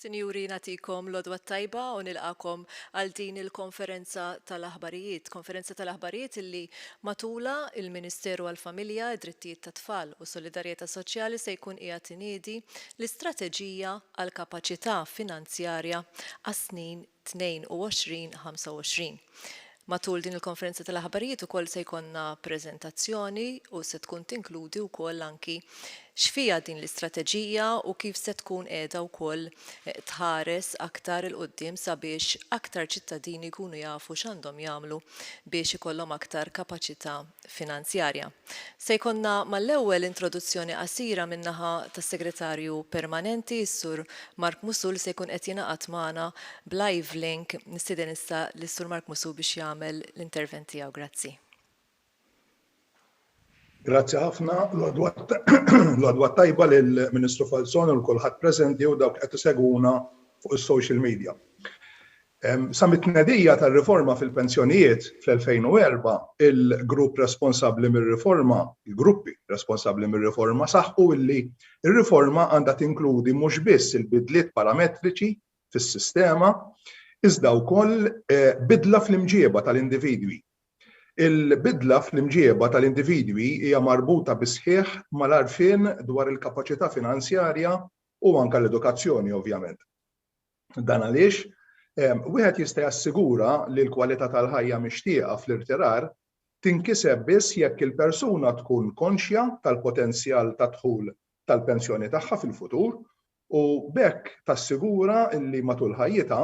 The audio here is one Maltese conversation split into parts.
Sinjuri, nagħtikom l-għodwa t-tajba u nilqagħkom għal din il-konferenza tal-aħbarijiet. Konferenza tal-aħbarijiet illi matulha il-Ministeru għall-Familja, id-Drittijiet tat-Tfal u s-Solidarjetà Soċjali se jkun qiegħed iniedi l-istrateġija għall-kapaċità finanzjarja għas-snin 22, 25. Matul din il-konferenza tal-aħbarijiet ukoll se jkollna preżentazzjoni u se tkun tinkludi wkoll anki x'fiha din l-istrateġija u kif se tkun qiegħda wkoll tħares aktar 'il quddiem sabiex aktar ċittadini jkunu jafu x'għandhom jagħmlu biex ikollhom aktar kapaċità Finanzjarja. Se jkollna mal-ewwel introduzzjoni qasira min-naħa tas-Segretarju Permanenti, is-Sur Mark Musù li se jkun qed jingħaqad magħna b'live link. Nistieden issa lis-Sur Mark Musù biex jagħmel l-intervent tiegħu. Grazzi. Grazzi ħafna. L-għodwa t-tajba lill-Ministru Falzon u lil kulħadd preżenti u dawk li qed isegwuna fuq is-social media. Sa mit-tnedija tar-riforma fil-pensjonijiet fl-2004, il-grupp responsabbli mir-riforma, il-gruppi responsabbli mir-riforma saħqu li r-riforma għandha tinkludi mhux biss il-bidliet parametriċi fis-sistema, iżda wkoll bidla fl-imġieba tal-individwi. Il-bidla fl-imġieba tal-individwi hija marbuta bis-sħiħ mal-għarfien dwar il-kapaċità finanzjarja u anke l-edukazzjoni, ovvjament. Dan għaliex wieħed jista' jassigura li l-kwalità tal-ħajja mixtieqa fl-irtirar tinkiseb biss jekk il-persuna tkun konxja tal-potenzjal ta' dħul tal-pensjoni tagħha fil-futur u b'hekk tassigura li matul ħajjitha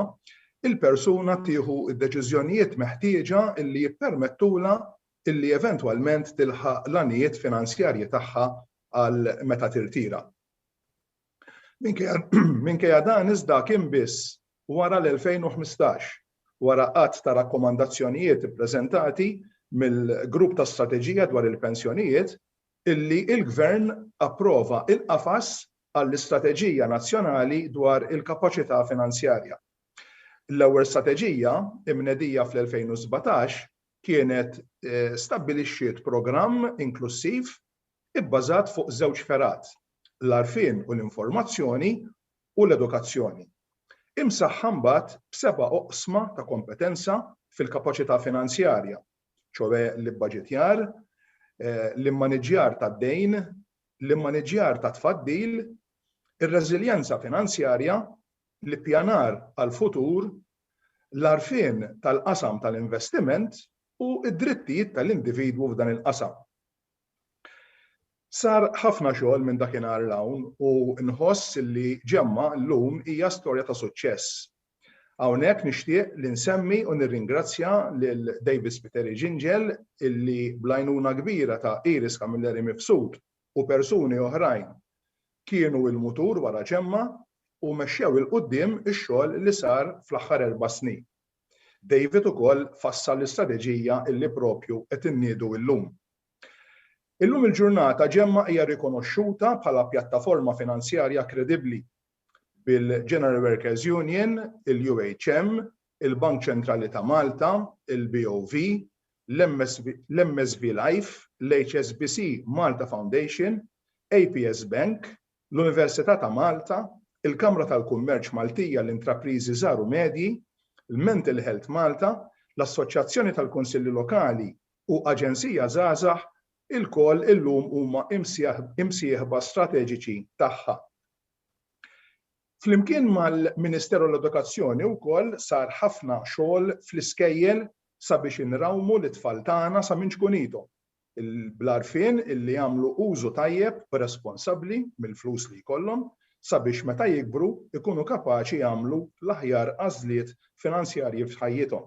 il-persuna tieħu d-deċiżjonijiet meħtieġa li jippermettulha li eventwalment tilħaq l-għanijiet finanzjarji tagħha għal meta tirtira. Minkejja dan iżda kien biss wara l-2015, wara għadd ta' rakkomandazzjonijiet ippreżentati mill-Grupp ta' Strateġija dwar il-Pensjonijiet, illi l-Gvern approva l-qafas għall-Istrateġija Nazzjonali dwar il-Kapaċità Finanzjarja. L-ewwel strateġija, imnedija fl-2017, kienet stabbilixxiet programm inklussiv ibbażat fuq żewġ fergħat, l-għarfien u l-informazzjoni u l-edukazzjoni, imsaħħa mbagħad b'seba' oqsma ta' kompetenza fil-kapaċità finanzjarja, ċoè l-ibbaġitjar, l-immaniġġjar tad-dejn, l-immaniġġjar tat-tfaddil, ir-reżiljenza finanzjarja, l-ippjanar għall-futur, l-għarfien tal-qasam tal-investiment u d-drittijiet tal-individwu f'dan il-qasam. Sar ħafna xogħol minn dakinhar 'l hawn u nħoss li Ġemma llum hija storja ta' suċċess. Hawnhekk nixtieq li nsemmi u nirringrazzja lil David Spiteri Ġinġel illi bl-għajnuna kbira ta' Iris Camilleri Mifsud u persuni oħrajn kienu il-mutur wara Ġemma u mexxew 'il quddiem ix-xogħol li sar fl-aħħar erba' snin. David ukoll fassal l-istrateġija illi proprju qed inniedu illum. Illum il-ġurnata Gemma hija rikonoxxuta bħala pjattaforma finanzjarja kredibbli, bil-General Workers Union, il-UHM, il-Bank Ċentrali ta' Malta, il-BOV, l-MSV Life, l-HSBC Malta Foundation, APS Bank, l-Università ta' Malta, il-Kamra tal-Kummerċ Maltija għall-Intrapriżi Żgħar u Medji, l-Mental Health Malta, l-Assoċjazzjoni tal-Kunsilli Lokali u Aġenzija Żgħażagħ, ilkoll illum huma imsieħba strateġiċi tagħha. Flimkien mal-Ministeru għall-Edukazzjoni wkoll sar ħafna xogħol fl-iskejjel sabiex inrawmu lit-tfal tagħna sa minn ċkunithom, bl-għarfien li jagħmlu użu tajjeb u responsabbli mill-flus li jkollhom sabiex meta jikbru jkunu kapaċi jagħmlu l-aħjar għażliet finanzjarji f'ħajjithom.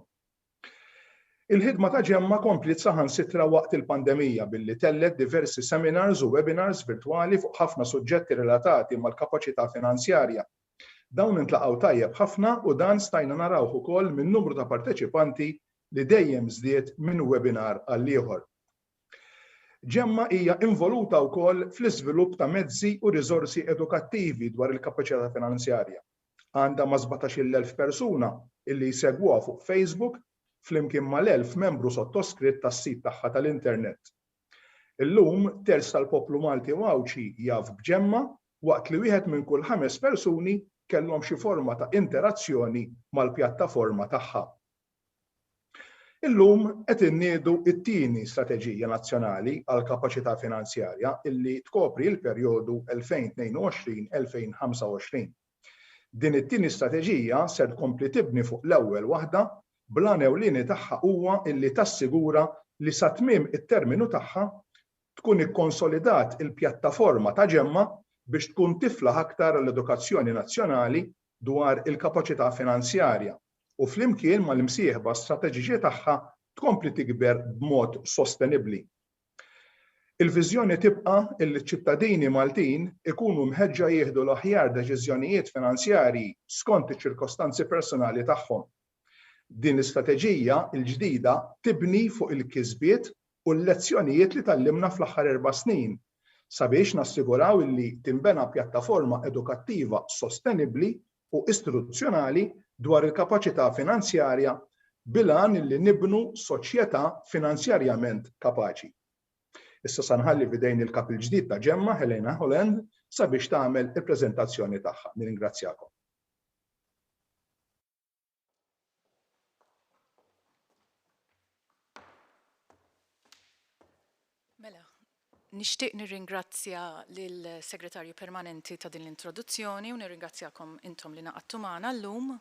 Il-ħidma ta' Gemma kompliet saħansitra waqt il-pandemija billi tellgħet diversi seminars u webinars virtwali fuq ħafna suġġetti relatati mal-kapaċità finanzjarja Dawn intlaqgħu tajjeb ħafna u dan stajna narawh ukoll min-numru ta' parteċipanti li dejjem żdied minn webinar għal ieħor. Gemma hija involuta wkoll fl-iżvilupp ta' mezzi u riżorsi edukattivi dwar il-kapaċità finanzjarja. Għandha ma' sbatax-il elf persuna illi jsegwuha fuq Facebook flimkien mal-elf membru sottoskritt tas-sit tagħha tal-internet. Illum, terz tal-poplu Malti u Għawdxi jaf b'Ġemma, waqt li wieħed minn kull ħames persuni kellhom xi forma ta' interazzjoni mal-pjattaforma tagħha. Illum qed inniedu t-tieni Strateġija Nazzjonali għall-Kapaċità Finanzjarja illi tkopri l-perjodu 2022-2025. Din it-tieni strateġija ser tkompli tibni fuq l-ewwel waħda bl-għan ewlieni tagħha huwa illi tassigura li sa tmiem it-terminu tagħha tkun ikkonsolidat il-pjattaforma ta' GEMMA biex tkun tiflaħ aktar għall-edukazzjoni nazzjonali dwar il-kapaċità finanzjarja u flimkien mal-imsieħba strateġiċi tagħha tkompli tikber b'mod sostenibbli. Il-viżjoni tibqa' illi ċ-ċittadini Maltin ikunu mħeġġa jieħdu l-aħjar deċiżjonijiet finanzjarji skont iċ-ċirkostanzi personali tagħhom. Din l-istrateġija l-ġdida tibni fuq il-kisbiet u l-lezzjonijiet li tgħallimna fl-aħħar erba' snin sabiex nassiguraw illi tinbena pjattaforma edukattiva sostenibbli u istituzzjonali dwar il-kapaċità finanzjarja bil-għan li nibnu soċjetà finanzjarjament kapaċi. Issa se nħalli f'idejn il-Kap il-ġdid ta' GEMMA, Helena Holland, sabiex tagħmel il-preżentazzjoni tagħha. Nirringrazzjakom. Mela, nixtieq nirringrazzja lill-Segretarju Permanenti ta' din l-introduzzjoni u nirringrazzjakom intom li naqadtu magħna llum.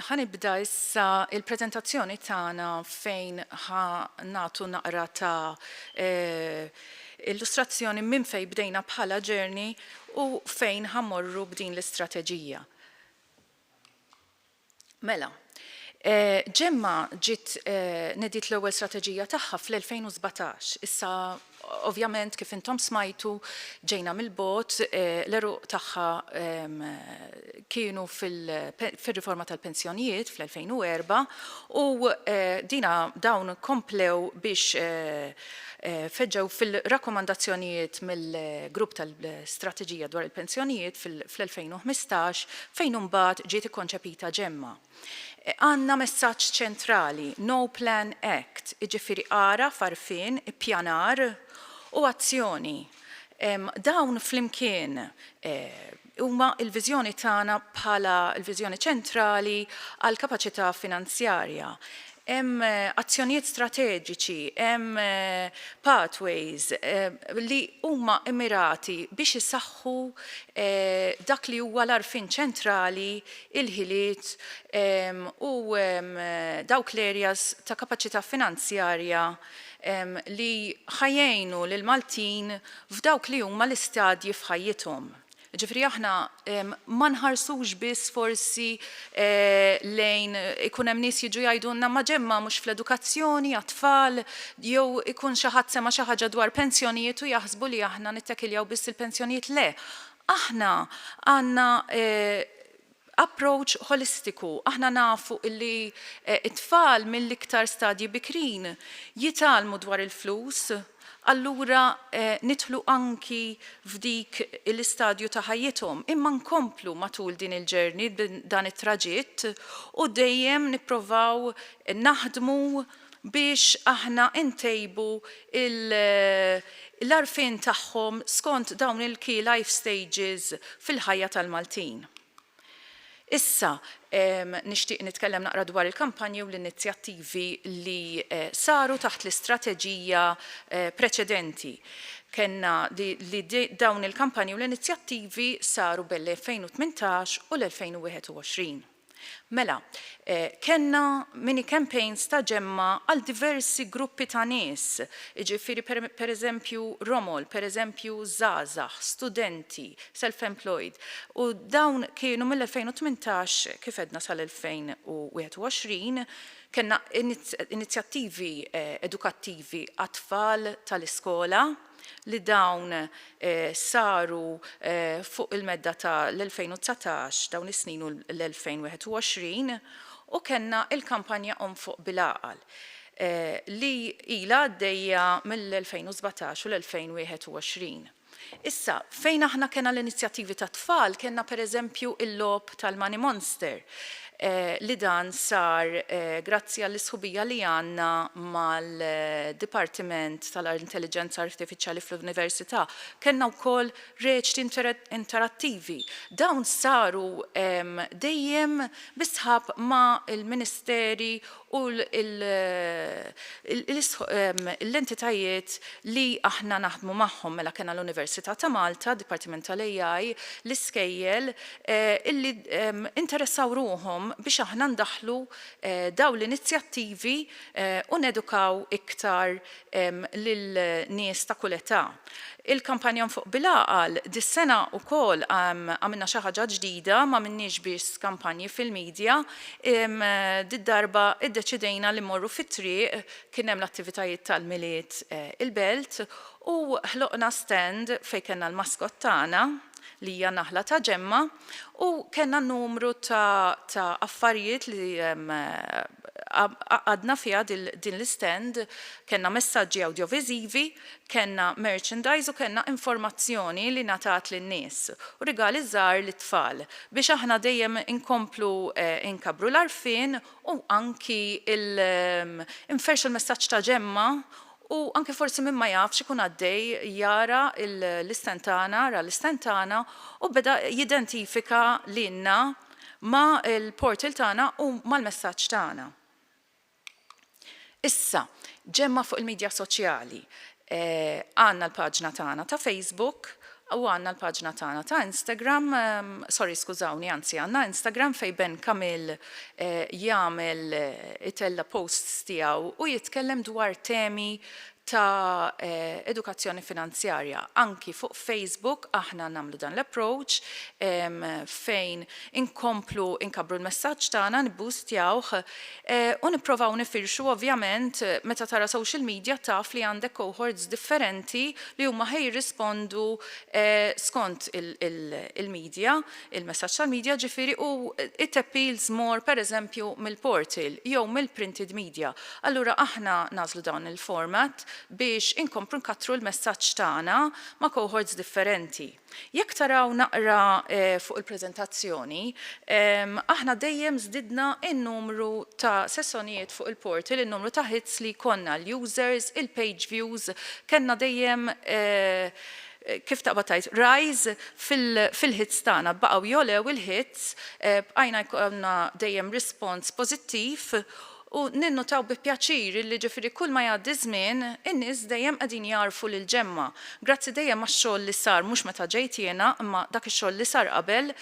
Ħanibda issa il-preżentazzjoni tagħna fejn ħa nagħtu naqra ta' illustrazzjoni minn fejn bdejna bħala ġerni u fejn ħa mmorru b'din l-istrateġija. Mela, Ġemma ġiet nediet l-ewwel strateġija tagħha fl-2017. Issa ovvjament kif intom smajtu ġejna mill-bogħod, l-għeruq tagħha kienu fir-riforma tal-pensjonijiet fl-2004 u dina dawn komplew biex feġġew fil-rakkomandazzjonijiet mill-Grupp tal-Strateġija dwar il-Pensjonijiet fl-2015 fejn imbagħad ġiet ikkonċepita Ġemma. Għandna messaġġ ċentrali, No Plan Act, jiġifieri għaraf, għarfien, ippjanar u azzjoni. Dawn flimkien huma l-viżjoni tagħna bħala l-viżjoni ċentrali għall-kapaċità finanzjarja. Hemm azzjonijiet strateġiċi, hemm pathways li huma mmirati biex isaħħu dak li huwa l-għarfien ċentrali, il-ħiliet u dawk l-areas ta' kapaċità finanzjarja li ħa jgħinu lill-Maltin f'dawk li huma l-istadji f'ħajjithom. Jiġifieri aħna ma nħarsux biss forsi lejn ikun hemm nies jiġu jgħidulna ma ġemma mhux fl-edukazzjoni għat-tfal jew ikun xi ħadd sema' xi ħaġa dwar pensjonijiet u jaħsbu li aħna nittakiljaw biss il-pensjonijiet le. Aħna għandna Approach ħolistiku, aħna nafu illi t-tfal mill-iktar stadji bikrin jitgħallmu dwar il-flus, allura nidħlu anki f'dik l-istadju ta' ħajjithom, imma nkomplu matul din il-journey, dan it-traġitt, u dejjem nipprovaw naħdmu, biex aħna ntejbu l-għarfien tagħhom skont dawn il-key life stages fil-ħajja tal-Maltin. Issa nixtieq nitkellem naqra dwar il-kampanji u l-inizjattivi li saru taħt l-istrateġija preċedenti. Kellna li dawn il-kampanji u l-inizjattivi saru bejn l-2018 u l-2021. Mela, kellna mini campaigns ta' ġemma għal diversi gruppi ta' nies, jiġifieri per eżempju romol, per eżempju żgħażagħ, studenti, self employed, u dawn kienu mill-2018 kif għedna sal-2021, kellna inizjattivi edukattivi għat-tfal tal-iskola, li dawn saru fuq il-medda ta' l-2019, dawn is-snin u l-2021, u kellna l-kampanja Omm Fuq Bil-Għaqal li ilha għaddejja mill-2017 u l-2021. Issa, fejn aħna kellna l-inizjattivi tat-tfal, kellna pereżempju l-logħob tal-Money Monster, li dan sar grazzi għall-isħubija li għandna mal-Dipartiment tal-Intelliġenza Artifiċjali fl-Università. Kellna wkoll reċti interattivi. Dawn saru dejjem bis-sħab ma' l-Ministeri u l-entitajiet li aħna naħdmu magħhom, mela kellna l-Università ta' Malta, d-Dipartiment tal-AI, l-iskejjel, illi interessaw ruħhom biex aħna ndaħħlu dawn l-inizjattivi u nedukaw iktar lil nies ta' kull età. Il-kampanja Nfuq bil-Għaqal dis-sena wkoll għamilna xi ħaġa ġdida, m'għamilniex biss kampanji fil-midja, did-darba iddeċidejna li mmorru fit-triq, kien hemm l-attivitajiet tal-Milied il-Belt u ħloqna stand fejn kellna l-mascot tagħna li hija naħla ta' ġemma, U kellna numru ta' ta' affarijiet li għaqqadna fiha din l-istand, kellna messaġġi awdjoviżivi, kellna merchandise u kellna informazzjoni li ngħatat lin-nies, u rigali żgħar lit-tfal, biex aħna dejjem inkomplu nkabbru l-għarfien u anki nferrxu l-messaġġ ta' Ġemma U anke forsi min ma jafx ikun għaddej jara l-istand tagħna, ra l-istand tagħna u beda jidentifika lilna ma' l-portal tagħna u mal-messaġġ tagħna. Issa, ġemma' fuq il-midja soċjali. Għandna l-paġna tagħna ta' Facebook U għandna l-paġna tagħna ta' Instagram, sorry skużawni anzi għandna Instagram fejn Ben Camille jagħmel itella' posts tiegħu u jitkellem dwar temi ta' edukazzjoni finanzjarja. Anki fuq Facebook aħna nagħmlu dan l-approach fejn inkomplu nkabbru l-messaġġ tagħna, nibboostjawh, u nipprovaw nifirxu ovvjament meta tara social media taf li għandek cohorts differenti li huma ħa jirrispondu skont il-media, il-messaġġ tal-media ġifieri u it appeals more pereżempju mill-portal jew mill-printed media. Allura aħna nagħżlu dan il-format biex inkomplu nkattru l-messaġġ tagħna ma' cohorts differenti. Jekk taraw naqra fuq il-preżentazzjoni, aħna dejjem żdidna n-numru ta' sessonijiet fuq il-portal, in-numru ta' hits li jkollna, l-users, il-page views, kellna dejjem, kif taqbad tgħid, rise fil-hits tagħna. Baqgħu jogħlew il-hits, bqajna jkollna dejjem response pożittiv, U ninnutaw bi pjaċir illi ġifieri kull ma jgħaddi ż-żmien, in-nies dejjem qegħdin jagħrfu lil Ġemma. Grazzi dejjem għax-xogħol li sar mhux meta ġejt jiena, imma dak ix-xogħol li sar qabel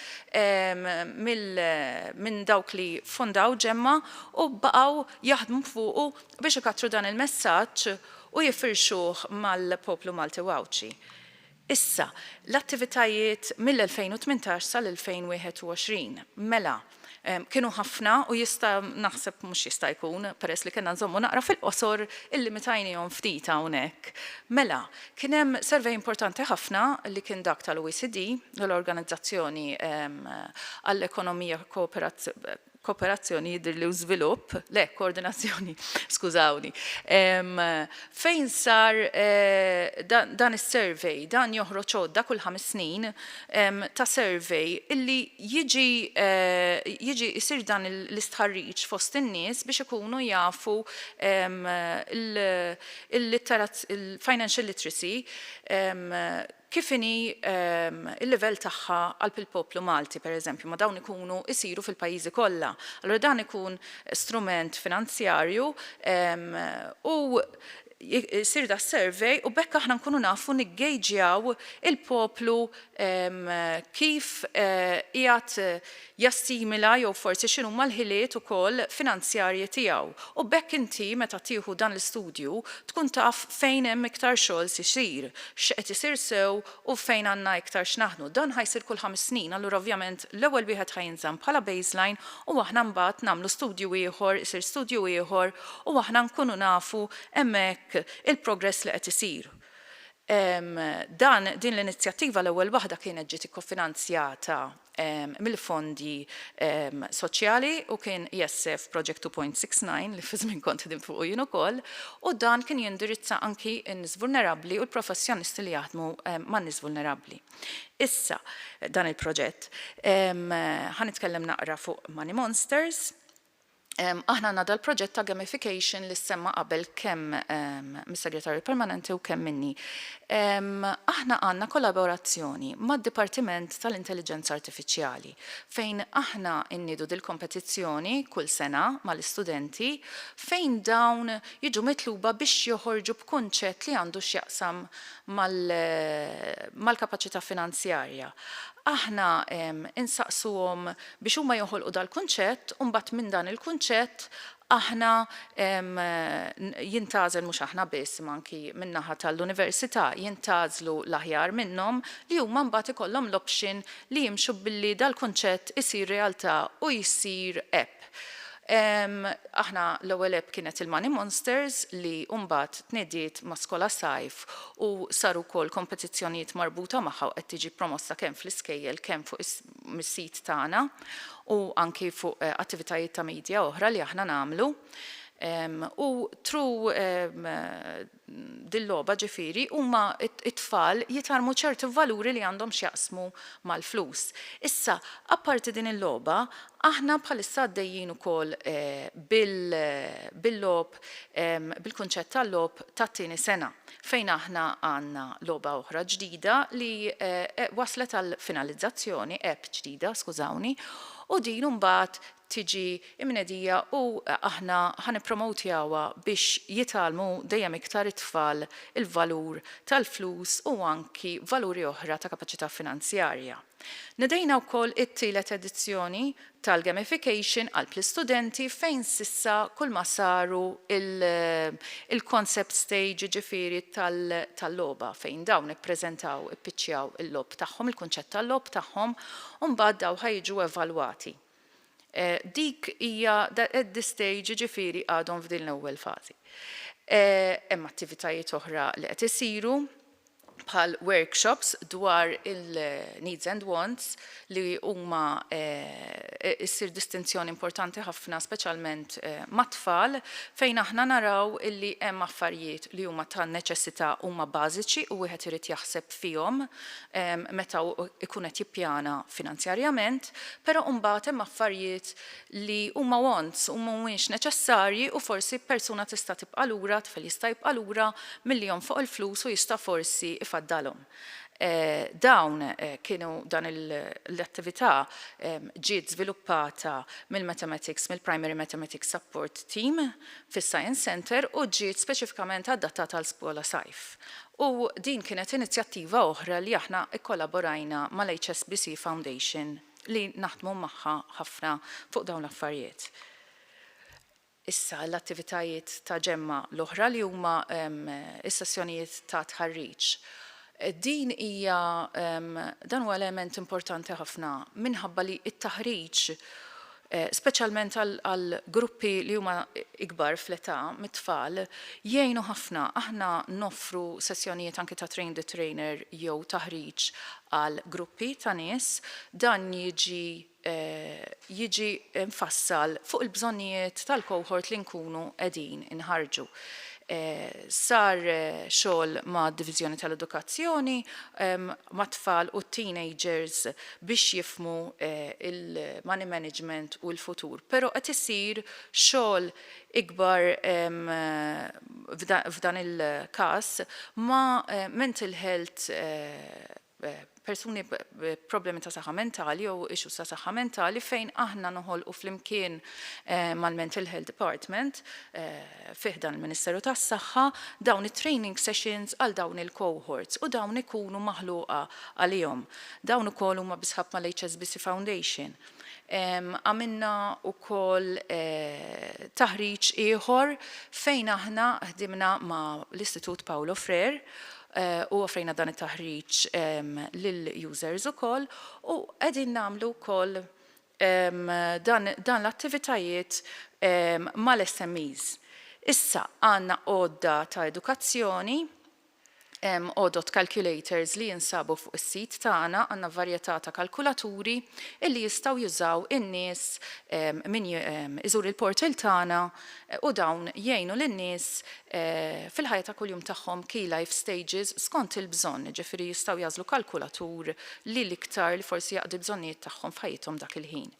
minn dawk li fondaw Ġemma u baqgħu jaħdmu fuqu biex ikattru dan il-messaġġ u jifirxuh mal-poplu Malti u Għawdxi. Issa, l-attivitajiet mill-2018 sal-2021, mela, kienu ħafna u jista', naħseb, mhux jista' jkun, peress li kellna nżommu naqra fil-qosor, illimitajniehom ftit hawnhekk. Mela, kien hemm survey importanti ħafna li kien dak tal-OECD, l-Organizzazzjoni għall-Ekonomija, kooperazzjoni jidhir li hu żvilupp, le koordinazzjoni, skużawni, fejn sar dan is-survey, dan joħroġ għodda kull ħames snin ta' survey illi jiġi jiġi jsir dan l-istħarriġ fost in-nies biex ikunu jafu l-litterazz il-financial literacy kif inhi l-livell tagħha qalb il-poplu Malti, per eżempju, ma dawn ikunu isiru fil-pajjiżi kollha. Allura dan ikun strument finanzjarju u jsir da survey u b'hekk aħna nkunu nafu niggejġjaw il-poplu kif qiegħed jassimila jew forsi x'inhuma l-ħiliet ukoll finanzjarji tiegħu u b'hekk inti meta tieħu dan l-istudju tkun taf fejn hemm iktar xogħol x'isir, x'qed isir sew u fejn għandna iktar x'naħdnu. Dan ħa jsir kull ħames snin, allura ovvjament l-ewwel wieħed ħa jinżamm bħala baseline u aħna mbagħad nagħmlu studju ieħor, isir studju ieħor u aħna nkunu nafu hemmhekk il-progress li qed isir. Dan, din l-inizjattiva l-ewwel waħda kienet ġiet ikkofinanzjata mill-fondi soċjali u kien ESF Project 2.69 li fi żmien kont ħdimt fuqu jien ukoll u dan kien jindirizza anki n-nies vulnerabbli u l-professjonisti li jaħdmu man-nies vulnerabbli. Issa, dan il-proġett. Ħa nitkellem naqra fuq Money Monsters. aħna għandna dal-proġett ta' gamification li ssemma qabel kemm mis-Segretarju Permanenti u kemm minni. Aħna għandna kollaborazzjoni mad-Dipartiment tal-Intelliġenza Artifiċjali fejn aħna nniedu dil-kompetizzjoni kull sena mal-istudenti fejn dawn jiġu mitluba biex joħorġu b'kunċett li għandu x'jaqsam mal-kapaċità finanzjarja. Aħna insaqsuhom biex huma joħolqu dal-kunċett u mbagħad minn dan il-kunċett aħna jintgħażel mhux aħna biss imma anki min-naħa tal-università jintgħażlu l-aħjar minnhom li huma mbagħad ikollhom l-option li jimxu billi dal-kunċett isir realtà u jsir app. Aħna l-ewwel app kienet il-Money Monsters li mbagħad tniediet ma' Skola Sajf u saru wkoll kompetizzjonijiet marbuta magħha u qed tiġi promossa kemm fl-iskejjel kemm fuq mis-sit tagħna u anki fuq attivitajiet ta' media oħra li aħna nagħmlu. U tru dil-logħba ġifieri huma t-tfal jitgħallmu ċerti valuri li għandhom x'jaqsmu mal-flus. Issa, apparti din il-logħba, aħna bħalissa għaddejjin ukoll bil-logħob, bil-kunċett tal-logħob tat-tieni sena. fejn aħna għandna logħba oħra ġdida li waslet għal finalizzazzjoni, app ġdida, skużawni, u din imbagħad tiġi imnedija u aħna ħa nippromowtjawha biex jitgħallmu dejjem iktar it-tfal il-valur tal-flus u anki valuri oħra ta' kapaċità finanzjarja. Nedejna wkoll it-tielet edizzjoni tal-gamification għal l-istudenti fejn s'issa kull ma saru il-concept stage jiġifieri tal-logħba fejn dawn ippreżentaw, ippiċċjaw il-logħob tagħhom, il-kunċett tal-logħob tagħhom u mbagħad dawn ħa jiġu evalwati. Dik hija at this stage, jiġifieri għadhom f'din l-ewwel fażi. Hemm attivitajiet oħra li qed isiru bħal workshops dwar il-needs and wants li huma issir distinzjoni importanti ħafna speċjalment mat-tfal fejn aħna naraw illi hemm affarijiet li huma ta' neċessità huma bażiċi u wieħed irid jaħseb fihom meta hu jkun qed jippjana finanzjarjament, però imbagħad hemm affarijiet li huma wants, huma mhumiex neċessarji u forsi persuna tista' tibqa' lura, tifel jista' jibqa' lura milli jonfoq il-flus u jista' forsi jfaddalhom. Dawn kienu, dan l-attività ġiet żviluppata mill-Mathematics, mill-Primary Mathematics Support Team fis-Science Centre u ġiet speċifikament adattata għal skola sajf. U din kienet inizjattiva oħra li aħna kkollaborajna mal-HSBC Foundation li naħdmu magħha ħafna fuq dawn l-affarijiet. Issa l-attivitajiet ta' ġemgħa l-oħra li huma s-sessjonijiet ta' tħarriġ. Din hija dan huwa element importanti ħafna minħabba li t-taħriġ speċjalment għal gruppi li huma ikbar fl-età mit-tfal, jgħinu ħafna. Aħna noffru sessjonijiet anki ta' train the trainer jew taħriġ għal gruppi ta' nies. Dan jiġi jiġi mfassal fuq il-bżonnijiet tal-cohort li nkunu qegħdin inħarrġu. Sar xogħol mad-Diviżjoni tal-Edukazzjoni mat-tfal u t-teenagers biex jifhmu l-money management u l-futur, però qed isir xogħol ikbar f'dan il-każ ma' mental health persuni b'problemi ta' saħħa mentali jew issues ta' saħħa mentali fejn aħna noħolqu flimkien mal-mental health department, fi ħdan il-Ministeru tas-Saħħa, dawn it-training sessions għal dawn il-cohorts u dawn ikunu maħluqa għalihom. Dawn ukoll huma bis-sħab mal-HSBC Foundation. Għamilna wkoll taħriġ ieħor fejn aħna ħdimna ma' l-Istitut Paulo Freire u offrejna dan it-taħriġ lill-users ukoll u qegħdin nagħmlu wkoll dan l-attivitajiet mal-SMEs. Issa għandna għodda ta' edukazzjoni, hemm għodod calculators li jinsabu fuq is-sit tagħna, għandna varjetà ta' kalkulaturi illi jistgħu jużaw in-nies min iżur il-portal tagħna u dawn jgħinu lin-nies fil-ħajja ta' kuljum tagħhom, key life stages, skont il-bżonn, jiġifieri jistgħu jagħżlu kalkulatur li l-iktar li forsi jaqdi l-bżonnijiet tagħhom f'ħajjithom dak il-ħin.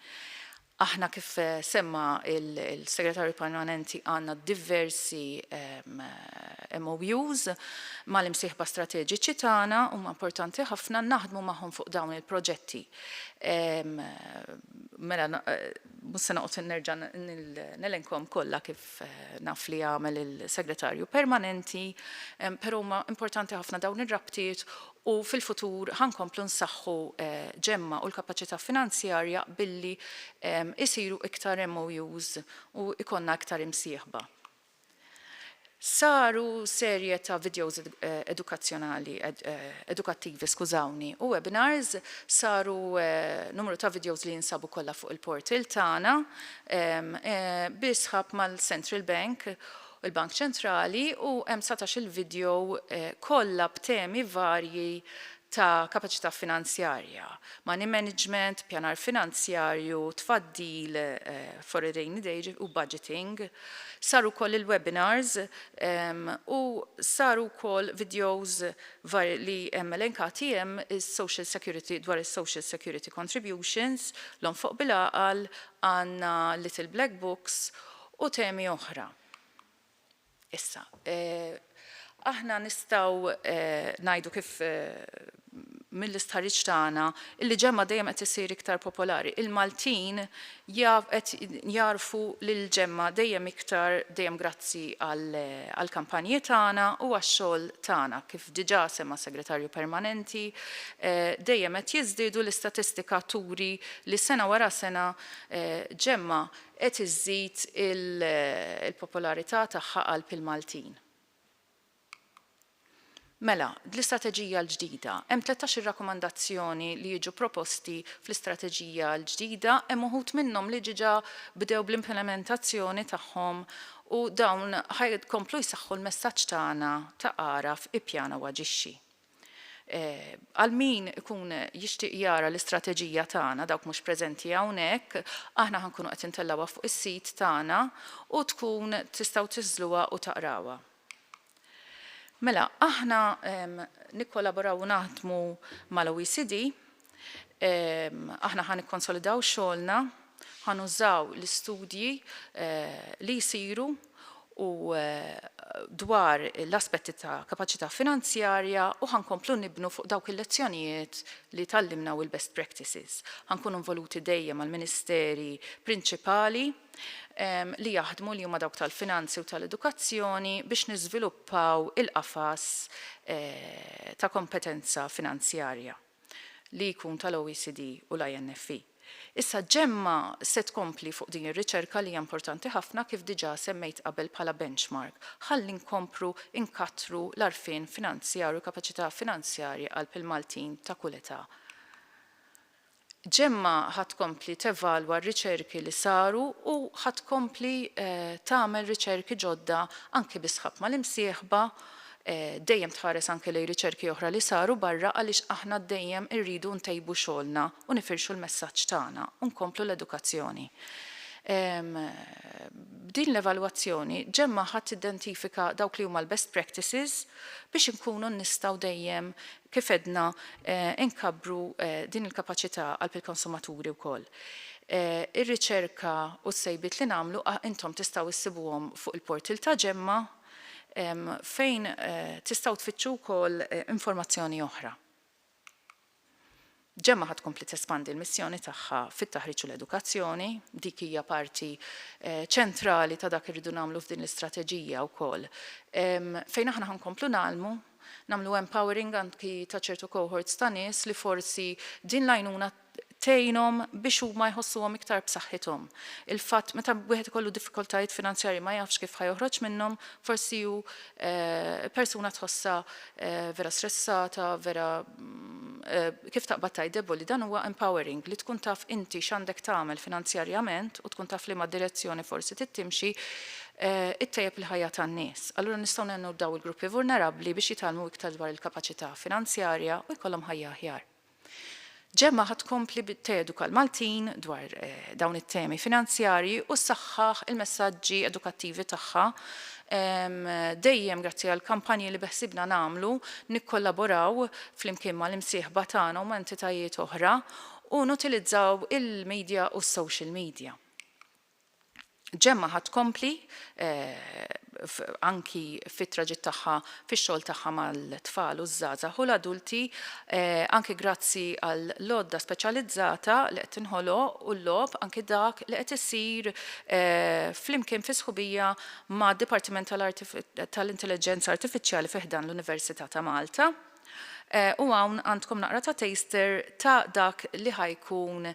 Aħna kif semma l-Segretarju Permanenti għandna diversi MOUs mal-imsieħba strateġiċi tagħna, huma importanti ħafna, naħdmu magħhom fuq dawn il-proġetti. Mela Mhux se noqgħod nerġa' nelenkhom kollha kif naf li għamel il-Segretarju Permanenti, però huma importanti ħafna dawn ir-rabtiet u fil-futur ħa nkomplu nsaħħu Gemma u l-kapaċità finanzjarja billi jsiru iktar MOUs u jkollna iktar imsieħba. Saru serje ta' vidjows edukazzjonali, edukattivi skużawni, u webinars, saru numru ta' vidjows li jinsabu kollha fuq il-portal tagħna, bi sħab mal-Central Bank, il-Bank Ċentrali, u hemm satax-il vidjow kollha b'temi varji ta' kapaċità finanzjarja, money management, pjanar finanzjarju, tfaddil, foreign rainy day, u budgeting. Saru wkoll il-webinars u saru wkoll vidjows varji li hemm elenkati hemm, is-social security, dwar is-social security contributions, l-onfoq bil-għaqal, għandna little black books u temi oħra. Issa, aħna nistgħu ngħidu kif mill-istħarriġ tagħna li ġemgħa dejjem qed issir iktar popolari. Il-Maltin qed jagħrfu lill-ġemgħa dejjem iktar dejjem grazzi għall-kampanji tagħna u għax-xogħol tagħna. Kif diġà semma s-Segretarju Permanenti, dejjem qed jiżdiedu, l-istatistika turi li sena wara sena ġemgħa qed iżżid il-popolarità tagħha qalb il-Maltin. Mela, dl-istrateġija l-ġdida, hemm tlettax-il rakkomandazzjoni li jiġu proposti fl-istrateġija l-ġdida, hemm uħud minnhom li diġà bdew bl-implementazzjoni tagħhom u dawn ħa jkomplu jsaħħu l-messaġġ tagħna ta' Agħraf, Ippjana u Aġixxi. Għal min ikun jixtieq jara l-istrateġija tagħna, dawk mhux preżenti hawnhekk, aħna ħa nkunu qed intellgħuha fuq is-sit tagħna u tkun tistgħu tiżżluha u taqrawha. Mela, aħna nikkolaboraw u naħdmu mal-OECD Aħna ħa nikkonsolidaw xogħolna, ħa nużaw l-istudji li jsiru u dwar l-aspetti ta' kapaċità finanzjarja u ħa nkomplu nibnu fuq dawk il-lezzjonijiet li tgħallimna u l-best practices. Ħa nkunu involuti dejjem mal-ministeri prinċipali li jaħdmu li huma dawk tal-finanzi u tal-edukazzjoni biex niżviluppaw il-qafas ta' kompetenza finanzjarja. li jkun tal-OECD u l-INFE. Issa GEMMA se tkompli fuq din ir-riċerka li hija importanti ħafna kif diġà semmejt qabel bħala benchmark ħalli nkompru nkattru l-għarfien finanzjarju u l-kapaċità finanzjarja qalb il-Maltin ta' kull età. GEMMA ħa tkompli tevalwa r-riċerki li saru u ħa tkompli tagħmel riċerki ġodda anki bis-sħab mal-imsieħba dejjem tħares anke lejn riċerki oħra li saru barra għaliex aħna dejjem irridu ntejbu xogħolna u nifirxu l-messaġġ tagħna u nkomplu l-edukazzjoni. B'din l-evalwazzjoni, Gemma ħa tidentifika dawk li huma l-best practices biex inkunu nistgħu dejjem, kif għedna, inkabbru din il-kapaċità għal pil-konsumaturi wkoll. Ir-riċerka u s-sejbiet li nagħmlu intom tistgħu issibuhom fuq il-portal ta' Gemma. fejn tistgħu tfittxu wkoll informazzjoni oħra. Gemma ħa tkompli tespandi l-missjoni tagħha fit-taħriġ u l-edukazzjoni, dik hija parti eh, ċentrali ta' dak irridu nagħmlu f'din l-istrateġija wkoll. Fejn aħna ħankomplu nagħlmu, nagħmlu empowering anki ta' ċertu cohorts ta' nies li forsi din l-għajnuna tgħinhom biex huma jħossuhom iktar b'saħħithom. Il-fatt meta wieħed ikollu diffikultajiet finanzjarji ma jafx kif ħa joħroġ minnhom, forsi hu persuna tħossha vera stressata, vera kif taqbad tgħid deboli, dan huwa empowering li tkun taf inti x'għandek tagħmel finanzjarjament u tkun taf liema direzzjoni forsi trid timxi, ittejjeb il-ħajja tan-nies. Allura nistgħu ngħinu lil dawn il-gruppi vulnerabbli biex jitgħallmu iktar dwar il-kapaċità finanzjarja u jkollhom ħajja aħjar. Gemma ħa tkompli teduka l-Maltin dwar dawn it-temi finanzjarji u ssaħħaħ il-messaġġi edukattivi tagħha dejjem grazzi għall-kampanji li beħsiebna nagħmlu nikkollaboraw flimkien mal-imsieħba tagħna u ma' entitajiet oħra u nutilizzaw il-midja u s-social media. Gemma ħa tkompli anki fit-traġitt tagħha fix-xogħol tagħha mal-tfal u ż-żgħażagħ u l-adulti anki grazzi għall-għodda speċjalizzata li qed tinħoloq u l-logħob anki dak li qed isir flimkien fi sħubija mad-Dipartiment tal-Intelliġenza Artifiċjali fi ħdan l-Università ta' Malta. U hawn għandkom naqra ta' taster ta' dak li ħa jkun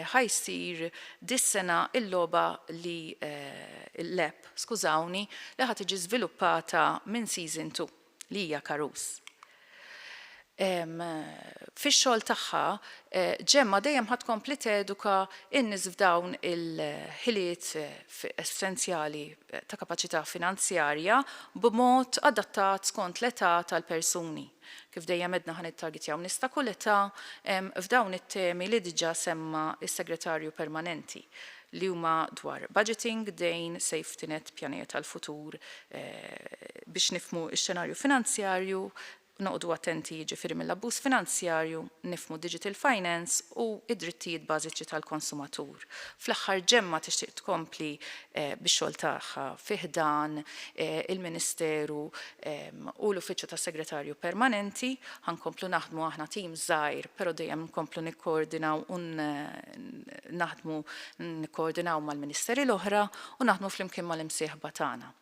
ħa jsir dis-sena il-logħba li l-app, skużawni, li ħa tiġi żviluppata minn Season Two li hija Karus. Fix-xogħol tagħha, Gemma dejjem ħa tkompli teduka n-nies f'dawn il-ħiliet essenzjali ta' kapaċità finanzjarja b'mod adattat skont l-età tal-persuni. Kif dejjem għedna ħa nittargetjaw nies ta' kull età f'dawn it-temi li diġà semma s-Segretarju Permanenti, li huma dwar budgeting, dejn, safety net, pjanijiet għall-futur biex nifhmu x-xenarju finanzjarju, Noqogħdu attenti jiġifieri mill-abbuż finanzjarju, nifhmu digital finance u d-drittijiet bażiċi tal-konsumatur. Fl-aħħar Gemma tixtieq tkompli bix-xogħol tagħha fi ħdan il-Ministeru u l-Uffiċċju tas-Segretarju Permanenti. Ħa nkomplu naħdmu aħna tim żgħir però dejjem nkomplu nikkoordinaw u naħdmu nikkoordinaw mal-Ministeri l-oħra u naħdmu flimkien mal-imsieħba tagħna.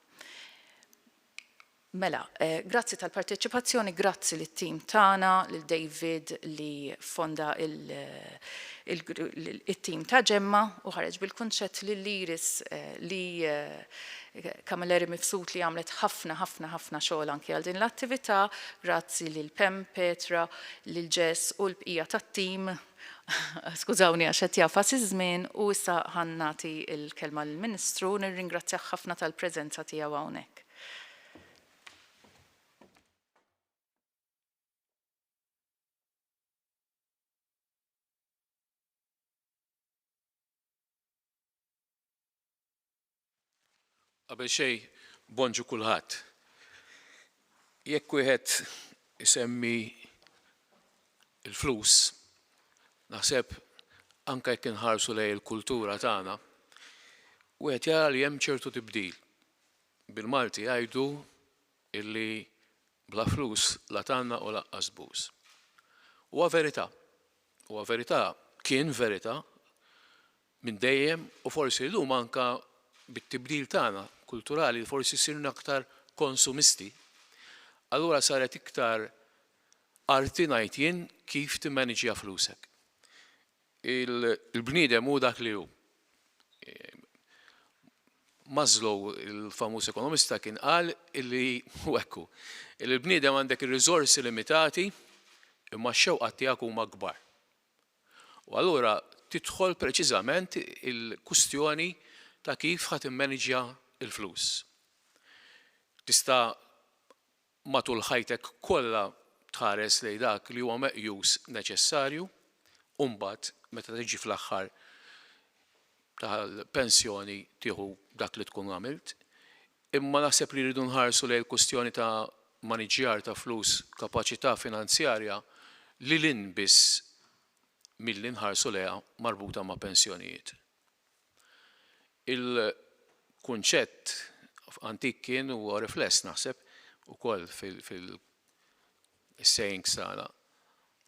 Mela, grazzi tal-parteċipazzjoni, grazzi lit-tim tagħna, lil David li ffonda it-tim ta' Ġemma u ħareġ bil-kunċett, lil Iris li Camilleri Mifsud li għamlet ħafna ħafna ħafna xogħol anki għal din l-attività, grazzi lil Pam, Petra, lil Jess u l-bqija tat-tim, skużawni għax qed jagħfas iż-żmien, u issa ħa nagħti l-kelma lill-Ministru, nirringrazzjah ħafna tal-preżenza tiegħu hawnhekk. Qabel xejn bonġu kulħadd. Jekk wieħed isemmi il-flus, naħseb anke jekk inħarsu lejn il-kultura tagħna, wieħed jara li hemm ċertu tibdil. Bil-Malti jgħidu illi bla flus la tgħanna u laqqas buz. Huwa verità. Huwa verità, kien verità minn dejjem u forsi llum anke bit-tibdil tagħna kulturali li forsi sirna aktar konsumisti, allura saret iktar arti ngħid jien kif timmaniġja flusek. Il-bniedem hu dak li hu. Maslow, il-famuż ekonomista kien qal illi hu hekk hu. Illi l-bniedem għandek ir-riżorsi limitati imma x-xewqat tiegħek huma kbar. U allura tidħol preċiżament il-kwistjoni ta' kif ħa timmaniġja l-flus. Tista' matul ħajtek kollha tħares lejn dak li huwa meqjus neċessarju u mbagħad meta tiġi fl-aħħar tal-pensjoni tieħu dak li tkun għamilt. Imma naħseb li rridu nħarsu lejn il-kwistjoni ta' maniġġjar ta' flus, kapaċità finanzjarja lil hinn biss milli nħarsu lejha marbuta ma' pensjonijiet. Il-kunċett antik kien u huwa rifless naħseb ukoll fil-sayings tagħna.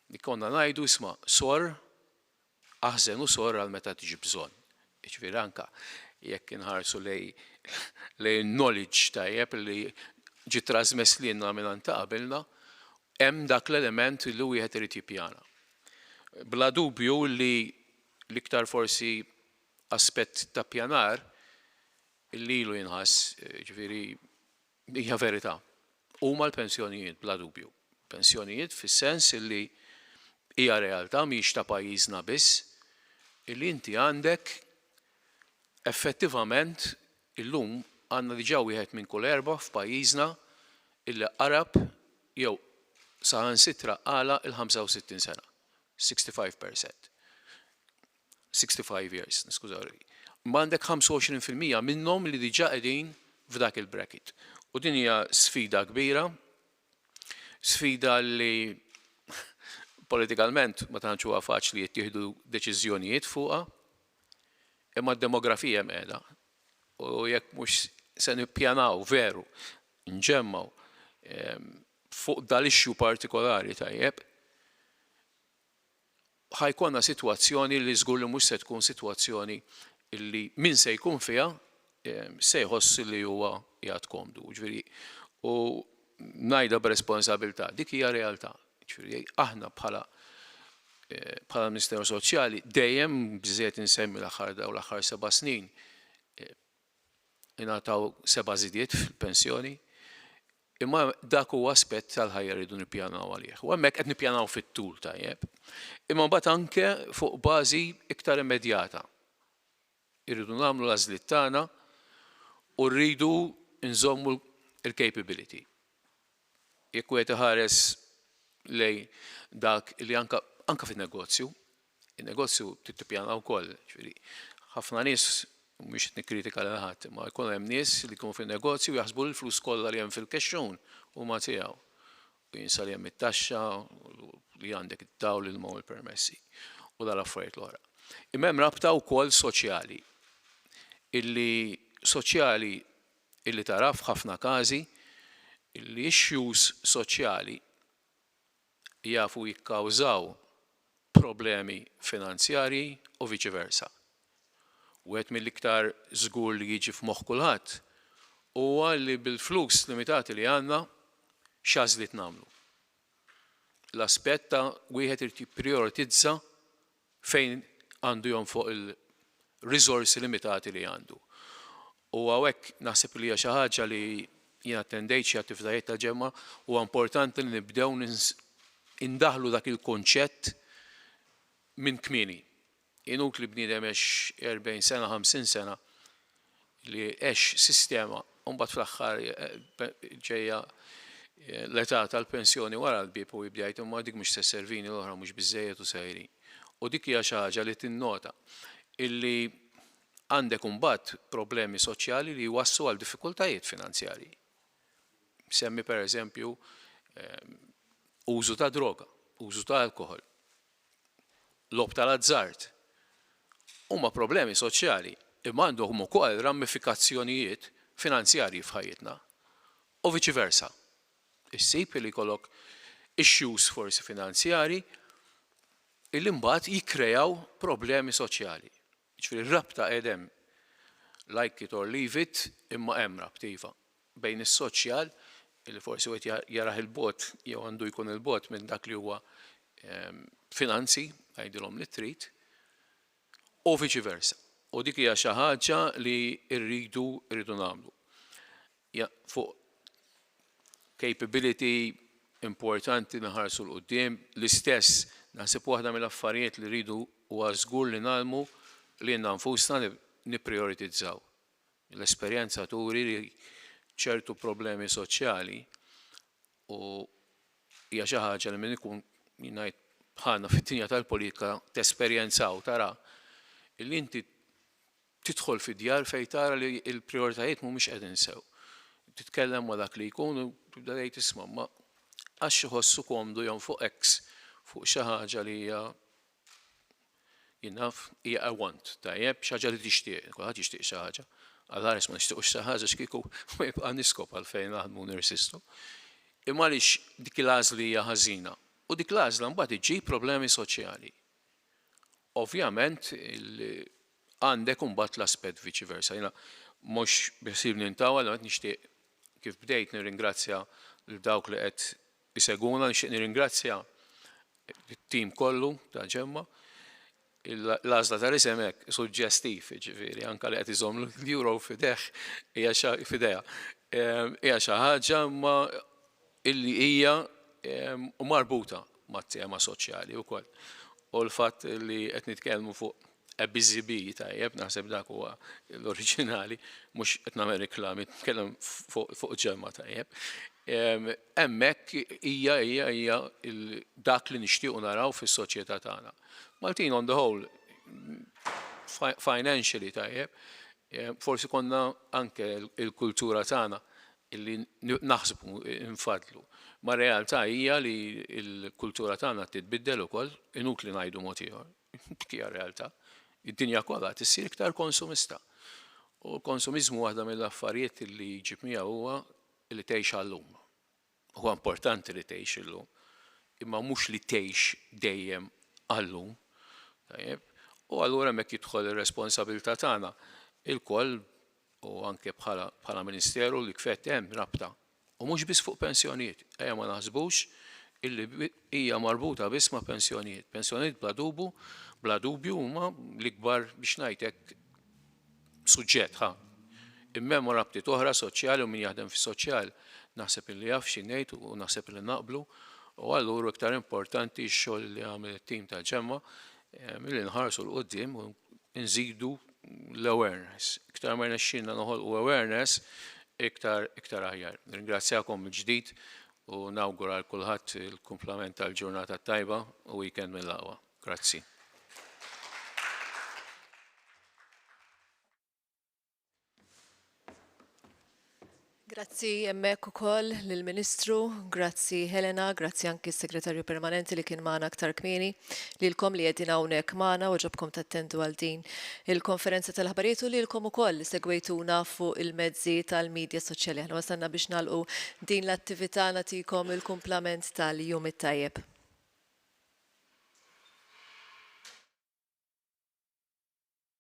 Li konna ngħidu isma' sorr, aħżen u sorr għal meta tiġi bżonn. Jiġifieri anke jekk inħarsu lejn in-knowledge tajjeb li ġie trażmess lilna mingħand ta' qabilna, hemm dak l-element li wieħed irid jippjana. Bla dubju li l-iktar forsi aspett ta' ppjanar li ilu jinħass, jiġifieri hija verità, huma l-pensjonijiet bla dubju. Pensjonijiet fis-sens li hija realtà mhix ta' pajjiżna biss li inti għandek effettivament illum għandna diġà wieħed minn kull erbgħa f'pajjiżna li qarab jew saħansitra għala l-65 sena. 65 percent. 65 years, niskuża ruħi. Imma għandek 25 fil-mija minnhom li diġà qegħdin f'dak il-bracket. U din hija sfida kbira, sfida li politikalment ma tantx huwa faċli jittieħdu deċiżjonijiet fuqha, imma d-demografija hemm qiegħda. U jekk mhux se nippjanaw veru nġemmgħu fuq dal-issue partikolari tajjeb, ħa jkollna sitwazzjoni li żgur li mhux se tkun sitwazzjoni li min se jkun fiha se jħoss li huwa qiegħed komdu. Jiġifieri, u ngħidha b'responsabilità, dik hija realtà. Jiġifieri, aħna bħala bħala Ministeru Soċjali dejjem biżżejjed insemmi l-aħħar daw l-aħħar seba' snin ingħataw seba' żidiet fil-pensjoni, Imma dak huwa aspett tal-ħajja li rridu nippjanaw għalih. U hemmhekk qed nippjanaw fit-tul tajjeb. Imma mbagħad anke fuq bażi iktar immedjata. Irridu nagħmlu l-għażliet tagħna u rridu nżommu l-capability. Jekk wieħed iħares lejn dak li anke anke fin-negozju, In-negozju trid tippjana wkoll, jiġifieri ħafna nies, mhux qed nikkritika lil ħadd, imma jkun hemm nies li jkunu fin-negozju u jaħsbu li l-flus kollha li hemm fil-kexxun huma tiegħu. U jinsa li hemm it-taxxa, li għandek id-dawl, l-ilma u l-permessi, u dal-affarijiet l-oħra. Imma hemm rabta wkoll soċjali, illi soċjali illi tara f'ħafna każi, l-issues soċjali, jafu jikkawżaw problemi finanzjarji u viċi versa. Wieħed mill-iktar żgur li jiġi f'moħħ kulħadd huwa li bil-flus limitati li għandna x'għażliet nagħmlu. L-aspett ta' wieħed irid jipprijoritizza fejn għandu jonfoq il-riżorsi limitati li għandu. U hawnhekk naħseb li hija xi ħaġa li, jien attendejt xi attivitajiet tal-Ġemgħa, huwa importanti li nibdew indaħħlu dak il-kunċett minn kmieni. Inutli bniedem jgħix 40 sena, 50 sena, li għex sistema u mbagħad fl-aħħar ġejja l-età tal-pensjoni wara l-bieb u jibda jgħid imma dik mhux se sservini l-oħra mhux biżżejjed u sejrin. U dik hija xi ħaġa li tinnota illi għandek imbagħad problemi soċjali li jwasslu għal diffikultajiet finanzjarji. Semmi pereżempju użu ta' droga, użu ta' alkoħol. tal-logħob tal-azzard huma problemi soċjali imma għandhom ukoll ramifikazzjonijiet finanzjarji f'ħajjitna u viċi versa. Issib li jkollok issues forsi finanzjarji li mbagħad jikkreaw problemi soċjali. Jiġifieri r-rabta qiegħed hemm. Like it or leave it, imma hemm rabta iva. Bejn is-soċjal, li forsi wieħed jarah 'il bogħod jew għandu jkun 'il bogħod minn dak li huwa finanzi, għidilhom li trid, u viċi versa. U dik hija xi ħaġa li rridu rridu nagħmlu. fuq capability importanti nħarsu 'l quddiem. L-istess, naħseb waħda mill-affarijiet li rridu huwa żgur li ngħallmu lilna nfusna li nipprijoritizzaw. L-esperjenza turi li ċertu problemi soċjali u hija xi ħaġa li min ikun jien ngħid bħalna fid-dinja tal-politika tesperjenza u tara li inti Tidħol fid-djar fejn tara li l-prijoritajiet mhumiex qegħdin sew. Titkellem ma' dak li jkun u tibda tgħid isma' imma għax iħossu komdu jonfoq X fuq xi ħaġa li hija jien naf hija a want, tajjeb, xi ħaġa li tixtieq, kulħadd jixtieq xi ħaġa. Għal ħares ma nixtiequx xi ħaġa x'kieku ma jibqa' niskob għalfejn naħdmu u nirsistu. Imma għaliex dik il-għażla hija ħażina? U dik l-għażla mbagħad iġġib problemi soċjali. Ovvjament Għandek imbagħad l-aspett viċi versa. Jiena mhux biħsiebni ntawwal, imma qed nixtieq kif bdejt nirringrazzja lil dawk li qed isegwuna, nixtieq nirringrazzja lit-tim kollu ta' Ġemma. L-għażla tal-isem hekk suġġestiv, jiġifieri anke li qed iżomm l-Euro f'idejh hija xi f'idejha. Hija xi ħaġa imma illi hija marbuta mat-tema soċjali wkoll. U l-fatt li qed nitkellmu fuq A Busy Bee, tajjeb, naħseb dak huwa l-oriġinali, mhux qed nagħmel riklami, nitkellem fuq ġemgħa tajjeb. Hemmhekk hija hija hija dak li nixtiequ naraw fis-soċjetà tagħna. Maltin on the whole financially tajjeb, forsi konna anke l-kultura tagħna illi naħsbu nfaddlu. Ma realtà hija li l-kultura tagħna titbiddel ukoll, inutli ngħidu mod ieħor. Dik hija realtà. Id-dinja kollha tissir iktar konsumista. U l-konsumiżmu waħda mill-affarijiet li jġib miegħu huwa li tgħix għal-lum. Huwa importanti li tgħix illum, imma mhux li tgħix dejjem għal-lum. Tajjeb? U allura hemmhekk jidħol ir-responsabilità tagħna ilkoll u anke bħala bħala Ministeru li kfett hemm rabta u mhux biss fuq pensjonijiet, ejja ma naħsbux illi hija marbuta biss ma' pensjonijiet. Pensjonijiet bla dubu, bla dubju huma l-ikbar biex ngħid hekk suġġett ħa. Imma hemm rabtiet oħra soċjali u min jaħdem fis-soċjal naħseb illi jaf xi ngħid u naħseb illi naqblu u allura iktar importanti x-xogħol li għamel it-tim tal-ġemma milli nħarsu l-quddiem u nżidu l-awareness. Iktar ma jnexxilna noħolqu awareness, iktar iktar aħjar. Ringrazzjakom mill-ġdid u nawgura għal kulħadd il-kumplament tal-ġurnata t-tajba u weekend mill-aqwa. Grazzi. Grazzi hemmhekk ukoll lill-Ministru, grazzi Helena, grazzi anki s-Segretarju Permanenti li kien magħna aktar kmieni, lilkom li qegħdin hawnhekk magħna u għoġobkom tattendu għal din il-konferenza tal-aħbarijiet u lilkom ukoll li segwejtuna fuq il-mezzi tal-midja soċjali. Aħna wasalna biex nagħlqu din l-attività, nagħtikom il-kumplament tal-jum it-tajjeb.